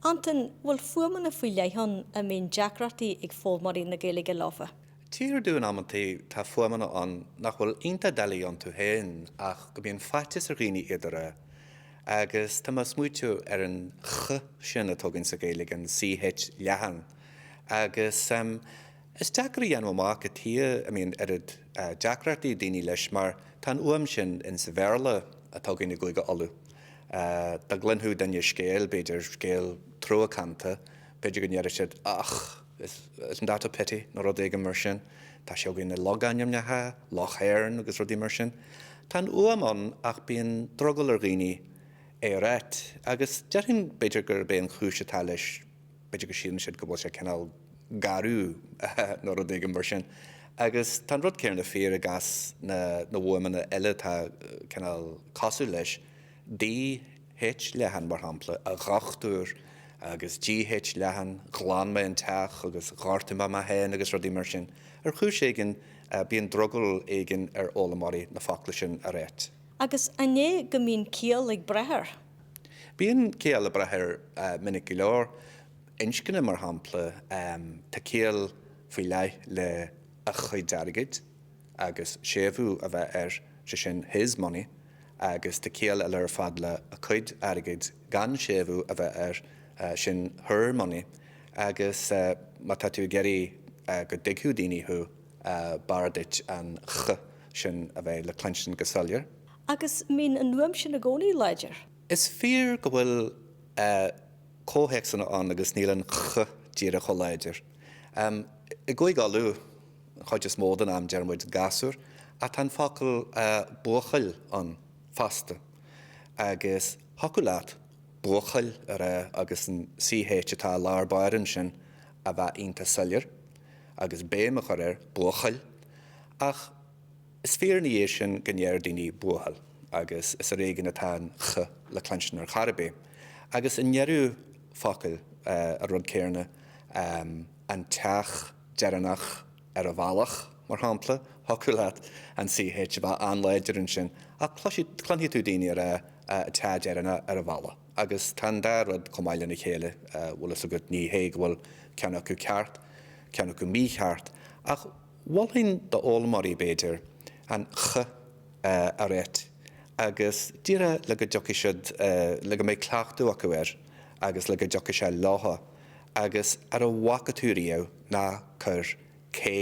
Antain, Bhfuil fuaimeanna faoi leith ann a mbíonn deacrachtaí ag foghlaimeoirí na Gaeilge leofa? Tchíthear domh amantaí tá fuaimeanna ann nach bhfuil iontach doiligh iontu féin ach go mbíonn faitíos ar dhaoine iad a rá. Agus tá mé ag smaoitiú ar an ch sin atá againn sa Ghaeilge, an ch leathan. Agus. Is deacair a dhéanamh amach cad chuige a mbíonn oiread deacrachtaí ag daoine leis mar tá an fhuaim sin in sa Bhéarla atá againn i gCúige Uladh. Dá gcluinfeadh duine scéal, b'fhéidir, scéal truacánta, b'fhéidir go ndéarfadh siad Och, isn't that a pity? nó rud éigin mar sin. Tá sé againn i logainmneacha, Loch Éirne agus rudaí mar sin. Tá an fhuaim ann ach bíonn drogall ar dhaoine é a ráit agus déarfainn, b'fhéidir, gurb é an chúis atá leis, b'fhéidir go síleann siad go bhfuil sé cineál garbh nó rud éigin mar sin. Agus tá an rud céarna fíor i gcás na bhfuaimeanna eile atá cineál cosúil leis, DH, leathan, mar shampla, a dhochtúir, agus GH, leathan, ghlan mé an teach agus ghortaigh mé mé féin agus rudaí mar sin. Ar chúis éigin bíonn drogall éigin ar fhoghlaimeoirí na focla sin a ráit. Agus an é go mbíonn ciall ag brath air? Bíonn ciall ag brath air minic go leor, inscne mar shampla, tá ciall faoi leith le a chuid airgid agus séimhiú a bheith air, sé sin his money, agus tá ciall eile ar fad le a cuid airgid gan séimhiú a bheith air, sin her money, agus má tá tú ag iarraidh go dtuigfeadh daoine thú, b'fhearr duit an ch sin a bheith le cluinstin go soiléir. Agus an mbíonn an fhuaim sin i gcónaí láidir. Is fíor go bhfuil comhthéacsanna ann agus níl an ch díreach chomh láidir. I gCúige Uladh, an chuid is mó den am deir muid gasúr ach tá an focal buachaill ann fosta agus thiocfadh leat buachaill a rá agus an ch atá i lár báire ansin a bheith iontach soiléir agus béim a chur air, buachaill. Ach. Is fíor ina dhiaidh sin go ndeir daoine 'buachaill' agus is ar éigean atá an 'ch' le cluinstin ar chor ar bith. Agus i ndeireadh focail, an rud céarna, an teach deireanach ar an bhealach, mar shampla, thiocfadh leat an ch a bheith an-láidir ansin ach cluinfidh tú daoine ag rá 'an teach deireanach ar an bhealach'. Agus tá an dá rud chomh maith lena chéile, bhfuil fhios agat, ní hé go bhfuil ceann acu ceart, ceann acu mícheart ach, Mholfainn d'fhoghlaimeoirí, b'fhéidir, an ch a ráit agus díreach le go dtiocfadh siad, le go mbeadh cleachtadh acu air agus le go dtiocfadh sé leothu agus ar a bhfaca tú riamh ná cuir k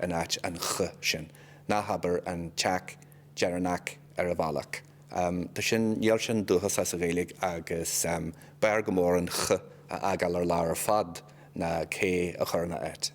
in áit an ch sin, ná habair an teac deireanach ar an bhealach. Tá sin, níl sin dúchasach sa Ghaeilge agus b'fhearr go mór an ch a fhágáil ar lár ar fad ná k a chur ina áit.